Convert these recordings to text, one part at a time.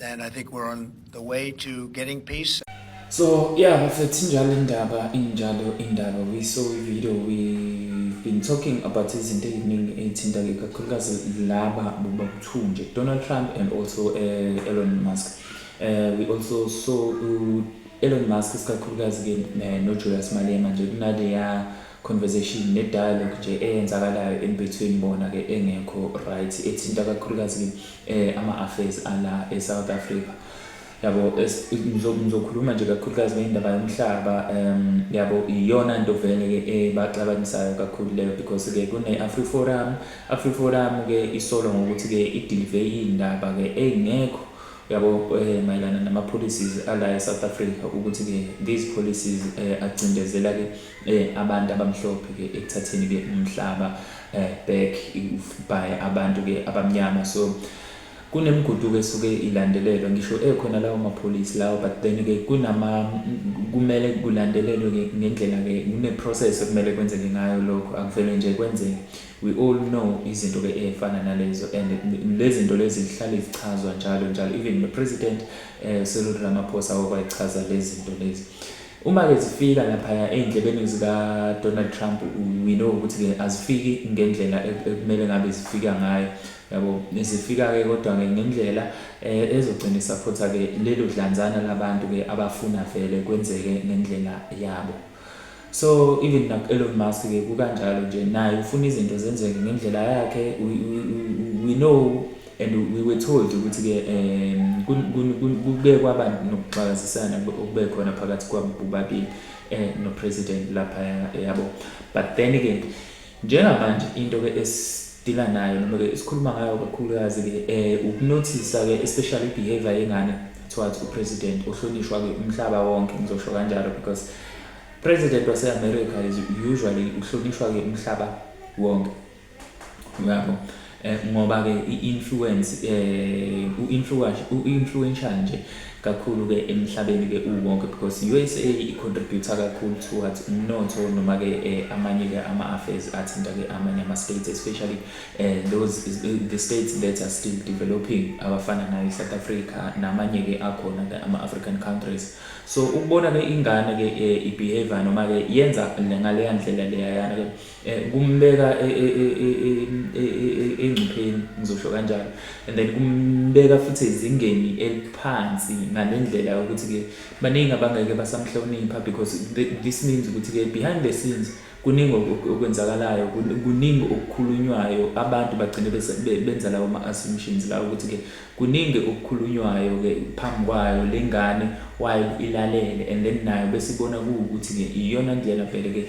And I think we're on the way to getting peace. So yeah, bafethu injalo indaba injalo indaba we saw a video we've been talking about izinto eziningi ezithinta ke kakhulukazi laba bobakuthunje Donald Trump and also uh, Elon Musk. Uh, we also saw uh, Elon Musk isikakhulukazi ke uh, no Julius Malema nje kunaleya conversation ne dialogue nje eyenzakalayo in between bona ke engekho right ethinta kakhulukazi eh ama affairs ala e South Africa yabo ngizokhuluma nje kakhulukazi ngendaba yomhlaba um yabo iyona nto vele ke ebaxabanisayo eh, kakhulu leyo because ke kune AfriForum AfriForum ke isolo ngokuthi ke idelive indaba ke engekho yabo eh, mayelana nama policies ala eSouth Africa ukuthi ke these policies eh, agcindezela ke eh abantu abamhlophe ke ekuthatheni ke umhlaba eh back by abantu ke abamnyama so kunemiguduko esuke ilandelelwa ngisho ekhona lawo mapholisi lawo but then ke kunama kumele kulandelelwe ke ngendlela ke kune process okumele kwenzeke ngayo lokho akuvele nje kwenzeke we all know izinto ke efana nalezo and lezinto lezi zihlale zichazwa njalo njalo even the president eh Cyril Ramaphosa wakwayichaza lezinto lezi Uma-ke zifika laphaya ey'ndlebeni zikaDonald Trump we know ukuthi-ke azifiki ngendlela e-, ekumele ngabe zifika ngayo yabo zifika-ke kodwa-ke ngendlela um ezogcina isaphotha-ke lelo dlanzana labantu-ke abafuna vele kwenzeke ngendlela yabo so even naku-elon musk-ke kukanjalo nje naye ufuna izinto zenzeke ngendlela yakhe we know and we were told ukuthi ke um kuke kwaba nokuxakazisana okube khona phakathi kwabo bobabili eh no president lapha yabo but then ke njengamanje into ke esidila nayo noma ke sikhuluma ngayo kakhulukazi ke eh ukunothisa ke especially behavior yengane towards u president ohlonishwa ke umhlaba wonke ngizosho kanjalo because president wase America is usually uhlonishwa ke umhlaba wonke uyabo eh, ngoba ke i-influence eh u-influence u-influential nje kakhulu ke emhlabeni ke uwonke because i-USA i-contribute kakhulu towards umnotho noma ke eh, amanye ke ama-affairs athinta ke amanye ama-states especially eh, those the states that are still developing abafana nayo i-South Africa namanye ke akhona ke ama-African countries so ukubona ke ingane ke eh, i-behavior noma ke yenza ngaleya ndlela leyayana ke Eh, kumbeka e, e, e, engcupheni ngizosho kanjalo and then kumbeka futhi ezingeni eliphansi ngale ndlela yokuthi-ke baningi abangeke basamhlonipha because this means ukuthi-ke behind the scenes kuningi okwenzakalayo kuningi okukhulunywayo abantu bagcine benza lawo ma-assumptions lawo ukuthi-ke kuningi okukhulunywayo-ke phambi kwayo le ngane wayo ilalele and then nayo besibona kuwukuthi-ke iyona ndlela vele-ke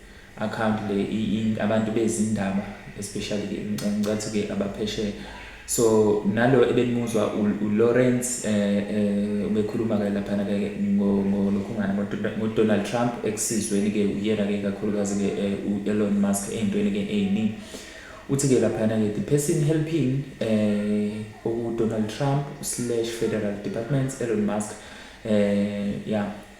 account le abantu bezindaba especially ke ngicathi ke abaphesheya so nalo ebenimuzwa uLawrence eh, eh ubekhuluma ke lapha na ke ngolokhungana ngoDonald Trump ekusizweni ke uyena ke kakhulukazi ke eh, uElon Musk ezintweni ke eziningi uthi ke lapha na ke the person helping eh uDonald Trump/Federal Department Elon Musk eh yeah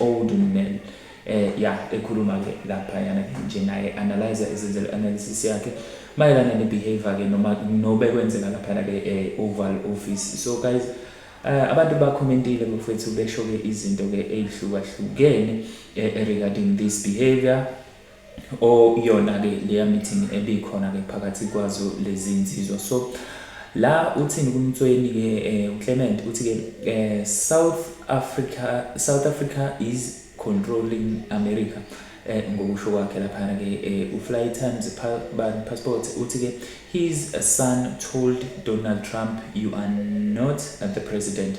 old women eh ya ekhuluma ke lapha yana ke nje naye analyzer ezenzela analysis yakhe mayelana ne behavior ke noma nobe kwenzeka lapha ke eh, oval office so guys eh, abantu bakhomentile mfethu besho ke izinto ke ezihlukahlukene eh, regarding this behavior oyona-ke leya meeting ebikhona-ke phakathi kwazo lezi nsizwa so la uthini kumtsweni-ke um uclement uthi-ke um south africa south africa is controlling america um ngokusho kwakhe laphana-ke um ufly times passport uthi-ke his son told donald trump you are not the president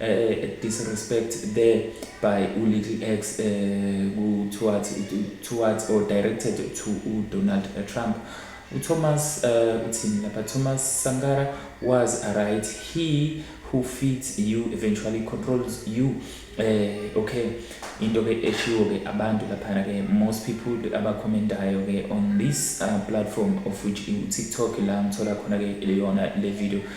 uh, disrespect there by ulittle x uh, eh, towards, towards or directed to udonald eh, trump uthomas uh, uthini lapha thomas sankara was right he who feeds you eventually controls you uh, okay into ke eshiwo ke abantu laphana ke most people abakhomentayo ke on this uh, platform of which in tiktok la ngithola khona ke leyona le video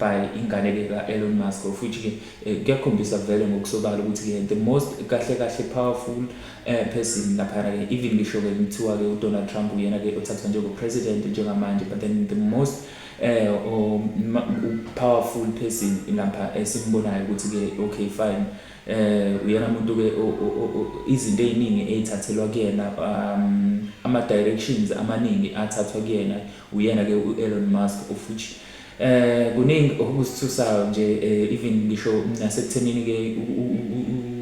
by ingane ke ka Elon Musk of which ke eh, kuyakhombisa vele ngokusobala ukuthi ke the most kahle kahle powerful eh, person lapha ke even ngisho ke kuthiwa ke uDonald Trump uyena ke othathwa njengo president njengamanje but then the most eh o powerful person lapha esimbonayo ukuthi ke okay fine eh uyena umuntu ke izinto eziningi ezithathelwa kuyena um ama directions amaningi athathwa kuyena uyena ke uElon Musk of which Eh kuningi okusithusayo nje eh, even ngisho nasekuthenini ke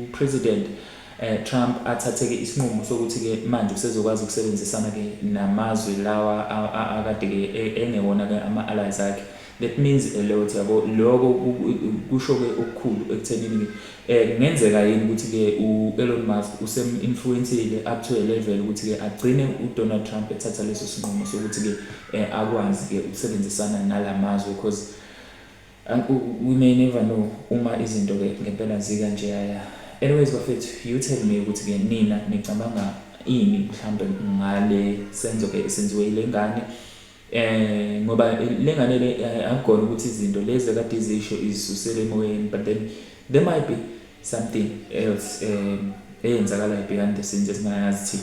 uPresident eh, Trump athatheke isinqumo sokuthi ke manje usezokwazi ukusebenzisana ke namazwe lawa akade ke e, engewona ke ama allies akhe that means a lot yabo lokho kusho ke okukhulu ekuthenini ke eh, kungenzeka yini ukuthi ke uElon Musk usem influenceile up to a level ukuthi ke agcine uDonald Trump ethatha leso sinqumo sokuthi ke eh, akwazi ke ukusebenzisana nalamazwe because um, we may never know uma izinto ke ngempela zika nje yaya anyways bafethu you tell me ukuthi ke nina nicabanga ini mhlambe ngale senzo ke senziwe ile ngane eh ngoba lengane le eh, akugona ukuthi izinto lezi kade izisho izisusele emoyeni but then there might be something else um eyenzakalayo behind the scenes esingayazi thina